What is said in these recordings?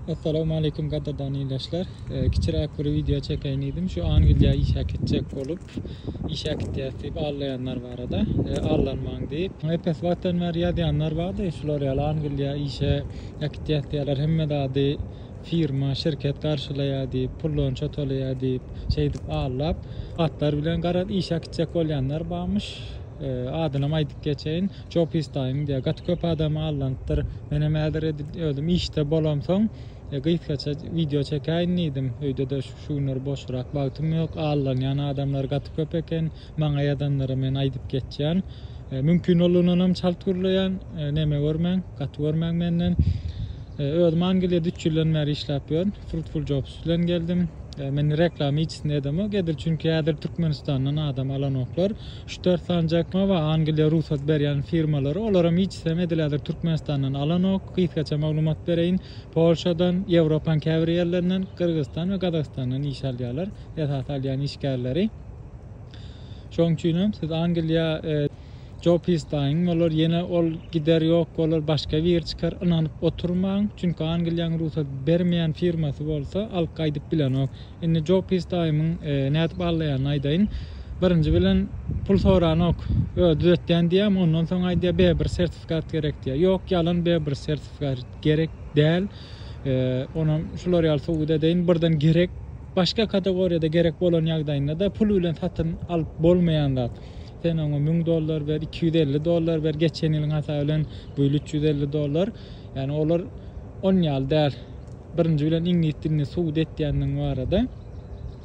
Assalamualeýkum gadyrdan ildeşler. Kiçiräk bir wideo çekeýin diýdim. Şu Angliýa işe gitjek bolup, işe gitýäs diýip allaýanlar barada. Allanmaň diýip, epes wagtdan bäri ýazýanlar bardy. Şular ýaly Angliýa işe gitýäs diýýärler. Hemme zady firma, şirket garşylaýar diýip, pullonça tolaýar diýip, şeýdip allap, hatlar bilen garaz işe gitjek bolýanlar barmyş. Adynam aýdyp geçeýin. Joe Pistaýyň diýýär. Gaty köp adamy aldanypdyr. Menem häzir edil özüm işde bolamsoň, gysgaça wideo çekäýin diýdim. Öýde-de şu günler boşrak wagtym ýok. Aldanýan adamlar gaty köp eken. Maňa ýazanlara men aýdyp geçýän. Mümkin boldugnanam çalt gürleýän. Neme görmäň, gaty görmäň menden. Özüm Angliýada üç ýyldan bäri işläp ýörün. Fruitful Jobs bilen geldim. Men reklama hiçisini edemok. Edil çünki häzir Türkmenistandan adam alanoklar. Ştersan Jekma we Angliýa rugsat berýän firmalary, olaram hiçisem edil häzir Türkmenistandan alanok. Gysgaça maglumat bereýin, Polşadan, Ýewropaň käbir ýerlerinden, Gyrgyzystan we Gazagystandan iş alýarlar, esasy alýan işgärleri. Şoň üçinem siz Angliýa. Jopis daýyň bolar, ýene ol gider ýok bolar, başga biri çykar, ynanyp oturmaň, çünki Angliýaň rugsat bermeýän firmasy bolsa alyp gaýdyp bilenok. Indi Joe Pis daýymyň nädip allaýanyny aýdaýyn. Birinji bilen, pul soranok. Özi düzetýän diýýämi, ondan soň aýdýar, Bebr sertifikat gerek diýýär. Ýok, ýalan, Bebr sertifikat gerek däl. Onam şular ýaly subut edeýin, birden gerek. Başga kategoriýada gerek bolan ýagdaýynda-da pul bilen satyn alyp bolmaýan zat. Sen oňa müň dollar ber, iki ýüz elli dollar ber, geçen ýylyň hasaby bilen bu ýyl üç ýüz elli dollar. Ýani olar on ýaly däl. Birinji bilen iňlis dilini subut etýändigiň barada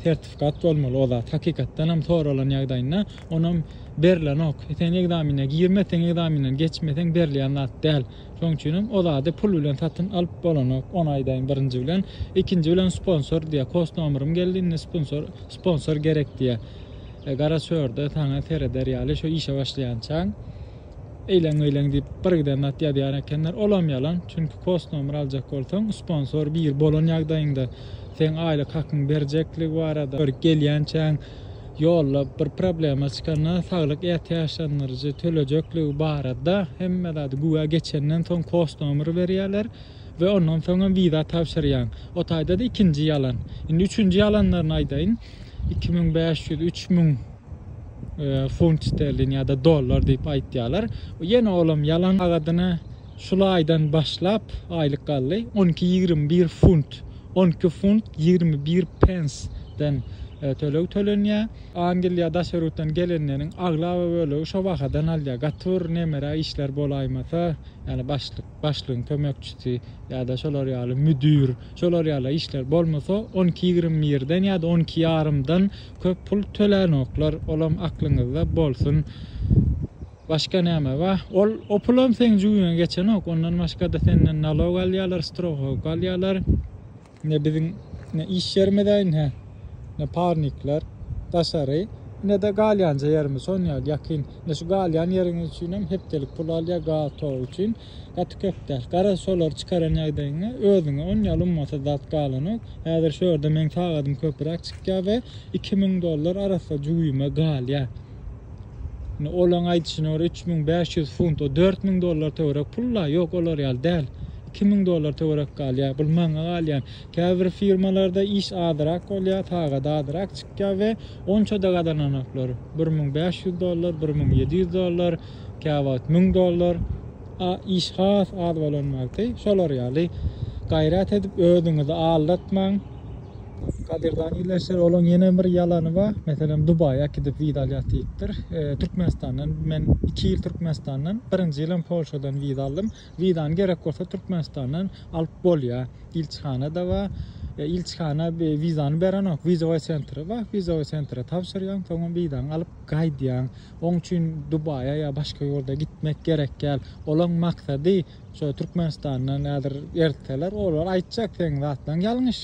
sertifikat bolmaly o zat hakykatdanam soralan ýagdaýynda onam berlenok sen ekzamine girmeseň ekzaminden geçmeseň berilýän zat däl şoň üçinem o zady pul bilen satyn alyp bolanok ony aýdaýyn birinji bilen ikinji bilen sponsor diýýär kos nomerym geldi indi sponsor sponsor gerek diýýär e, gara çörde saňa sereder ýaly şu işe başlaýançaň Eýleň-beýleň diýip birgiden zat ýazýar ekenler, olam ýalan, çünki kos nomer aljak bolsaň, sponsor bir bolan ýagdaýyňda seň aýlyk hakyňy berjekligi barada bir gelýänçäň ýolda bir problema çykanda saglyk ätiýaçlandyryjy tölejekligi barada hemme zady güwä geçenden soň kos nomeri berýärler we ondan soňam wiza tabşyrýaň. O taýda-da ikinji ýalan. Indi üçünji ýalanlaryny aýdaýyn. Iki müň bäş ýüz, üç müň. Funt sterlin ýa-da dollar diýip aýtýarlar. Ýene olam ýalan agadyna şul aýdan başlap aýlyk galdy. 12-21 funt, 12 funt 21 pensden e, töleg tölenýär. Angliýa daş ýurtdan gelenleriň aglaba bölegi şo bahadan alýar. Gaty bir nemere işler bolaýmasa, ýani başlyk, başlygyň kömekçisi ýa-da şolar ýaly müdir, şolar ýaly işler bolmasa 12-21-den ýa-da 12 ýarymdan köp pul tölänoklar olam aklyňyzda bolsun başga näme ba ol o pulam seň jübiňe geçenok ondan başgada senden nalog alýalar strohowka alýalar ne biziň ne iş ýerimizaýn hä ne parnikler daşary nede galýanja ýerimiz şon ýaly ýakyn ne şu galýan ýeriňiz üçinem hepdelik pul alýa gaz tok üçin. Gaty köp däl. Garaz şolary çykaran ýagdaýyňda özüňe on ýaly ummasyz zat galanok. Häzir şu ýerde meň sagadym köpüräk çykýar we iki müň dollar arassa jübime galýar. Indi olaň aýdyşyna görä üç müň bäş ýüz funt, o dört müň dollar töwerek pul-la, ýok olar ýaly däl. Iki müň dollar töwerek galýar. Bul maňa galýan. Käbir firmalarda iş azyrak bolýar, sagat azyrak çykýar we onça-da gazananoklar. Bir müň bäş ýüz dollar, bir müň ýedi ýüz dollar. käwagt müň dollar, a iş has az bolan wagty şolar ýaly gaýrat edip özüňizi aldatmaň. Kadirjan ildeşler olaň ýene bir ýalany bar meselem dubaýa äkidip wiza alýas diýipdir türkmenistandan men iki ýyl türkmenistandan birinji ýylam polşadan wiza aldym wizany gerek bolsa türkmenistandan alyp bolýa ilçihana da bar ilçihana wizany berenok wizowy sentri bar wizowy sentre tabşyrýaň soňam wizaňy alyp gaýdýaň Oň üçin Dubaýa ýa başga ýurda gitmek gerek däl. Olaň maksady şo Türkmenistandan häzir eritseler, olar aýtjak seň zatlaň ýalňyş.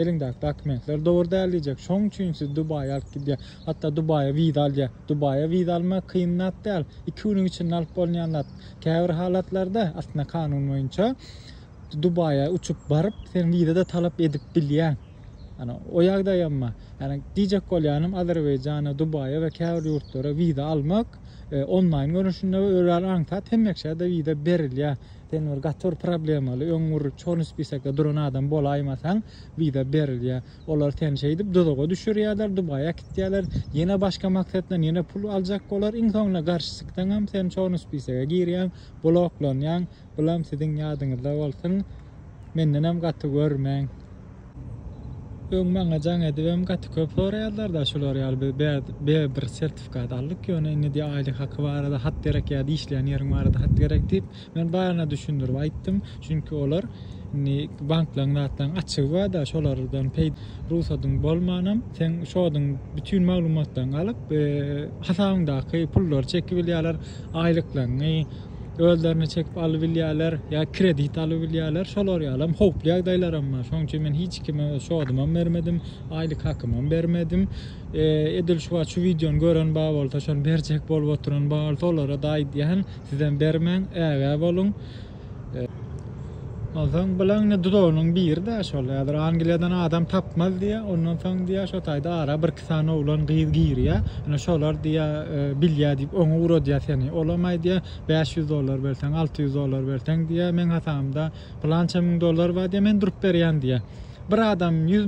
Eliňdäki dokumentler dogry däl diýjek. Şoň üçin sizi Dubaýa alyp gidýär. Hatda Dubaýa wiza alýar. Dubaýa wiza almak kyn zat däl. Iki günüň içinde alyp bolunýan zat. Käbir halatlarda aslynda kanun boýunça Dubaýa uçup baryp, sen wiza-da talap edip bilýäň. Ýani o ýagdaýamma, ýani diýjek bolýanym Azerbaýjana, Dubaýa we käbir ýurtlara wiza almak onlaýn görnüşinde we özüňi aňsat hemmeksä-de wiza berilýär. Sen bir gaty bir problemaly, öň bir çorny spisekde duran adam bolaýmasaň, wiza berilýär. Olar seni şeýdip duzaga düşürýärler, Dubaýa äkitýärler, ýene başga maksat bilen ýene pul aljak bolar, iň soňunda garşy çyksaňam sen çorny spisege girýäň, bloklanýaň. Bulam siziň ýadyňyzda bolsun. Mendenem gaty görmäň. Öň maňa jaň edibem gaty köp soraýarlar-da şular ýaly biz bäz bir sertifikat aldyk ýöne indi diýýär aýlyk haky barada hat gerek ýa-da işleýän ýeriň barada hat gerek diýip men baryna düşündirip aýtdym çünki olar indi banklaň zatlaň açygy barda şolardan peýda rugsadyň bolmanam seň şodyň bütin maglumatlaň alyp hasabyňdaky pullary çekibilýärler aýlyklaňňy özlerine çekip alybilýärler, ýa kredit alybilýärler, şolar ýaly hem howply ýagdaýlaram bar. Şonuň üçin men hiç kime öz şodumam bermedim, aýlyk hakymam bermedim. Edil şu wagt şu wideony gören bar bolsa, şony berjek bolup oturan bar bolsa, olara-da aýdýan, sizem bermäň, ägä boluň. Onsoň bilen indi dudagynyň biri-de şol häzir Angliýadan adam tapmaz diýýär. Ondan soň diýýär, şo taýda ara birki sany oglan, gyz girýär. Ine şolar diýýär, bilýär diýip oňa ugradýar seni. Olam aýdýar, bäş ýüz dollar berseň, alty ýüz dollar berseň diýýär, meň hasabymda pylança müň dollar bar diýýär, men durup berýän diýýär. Bir adam ýüz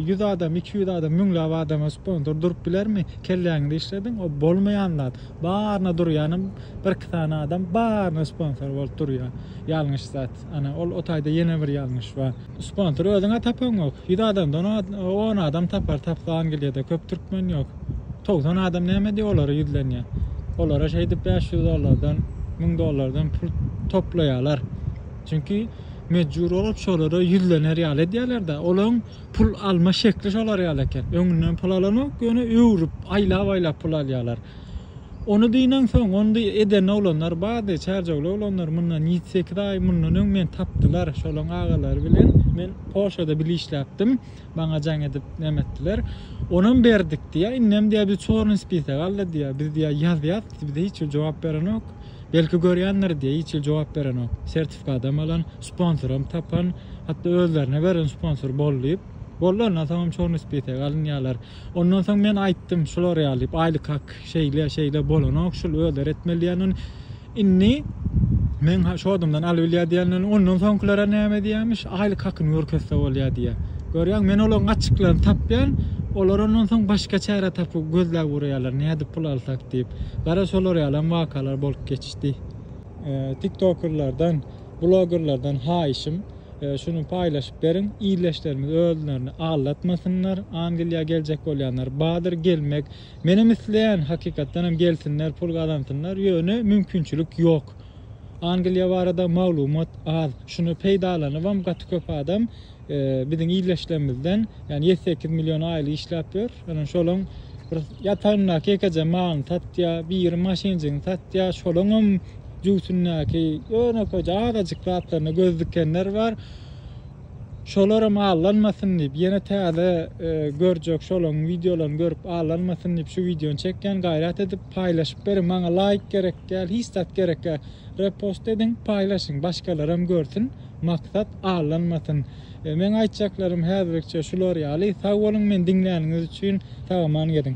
ýüz adam, iki ýüz adam, müňläp adama sponsor durup bilermi? Kelläňizi işlediň, o bolmaýan zat. Baryna durýanam birki sany adam baryna sponsor bolup durýar. Ýalňyş zat. Ana, ol o taýda ýene bir ýalňyş bar. Sponsor özüň-ä tapaňok. Ýüz adamdan on adam tapar, tapsan gilýa-da, köp türkmen ýok. Togsan adam näme diýip olara ýüzlenýär. Olara şeýdip bäş ýüz dollardan, müň dollardan pul toplaýarlar. Çünki mejbur bolup şolara ýüzlener ýaly edýärler-de. Olaryň pul alma şekli şolar ýaly eken. Öňünden pul alanok, ýöne öwrüp, aýlap-aýlap pul alýarlar. Ony dynansoň, ony eden oglanlar bardy, çärjewli oglanlar, mundan ýedi-sekiz aý mundan öň meni tapdylar, şolaň agalary bilen men Polşada bile işläpdim, maňa jaň edip näme etdiler. Onam berdik diýýär, indem diýýär biz çornyý spisak aldy diýýär, biz diýýär ýazýas, bize hiç ýyl jogap berenok, belki görýändir diýýär, hiç ýyl jogap berenok, sertifikadam alan, sponsoram tapan, hatda özlerine beren sponsor bol diýip, boldy ondan soňam çornyý spisak alynýarlar. Ondan soň men aýtdym şular ýaly diýip, aýlyk hak şeýle, şeýle bolanok, şul özleri etmeli diýen ony. Indi men şu adamdan alybilýär diýenlerini, ondan soňkylara näme diýermiş, aýlyk hakyny görkezse bolýar diýýär. Görýäňmi, men olaryň gaçyklaryny tapýan, olar ondan soň başga çäre tapyp gözläp urýarlar, nädip pul alsak diýip. Gara, şolar ýalam wakalar bolup geçdi. Tiktokerlerden, blogerlerden haýyşym, Şuny paýlaşyp beriň. Ildeşlerimiz özlerini aldatmasynlar. Angliýa geljek bolýanlar badyr gelmek. Menem isleýän hakykatdan hem gelsinler pul gazansynlar ýöne mümkinçilik ýok. Angliýa barada maglumat az. Şuny peýdalanybam gaty köp adam biziň ildeşlerimizden ýani ýedi sekiz million aýlyk işläp ýör. Ýöne şolaň bir ýatagyndaky ýekeje malyny satýar, biri maşynjygyny satýar. Şolaňam jübüsindäki ýönekeje azajyk zatlaryna göz dikenler bar. Şolaram allanmasyn diýip, ýene täze e, görjek şolaryň wideolaryny görüp allanmasyn diýip şu wideony çekýän. Gaýrat edip paýlaşyp beriň. Maňa laýk gerek däl, hiç zat gerek däl. Repost ediň, paýlaşyň, başgalaram görsün. Maksat allanmasyn. E, meň aýtjaklarym häzirlikçe şular ýaly. Sag boluň meni diňläniňiz üçin. Sag-aman geziň.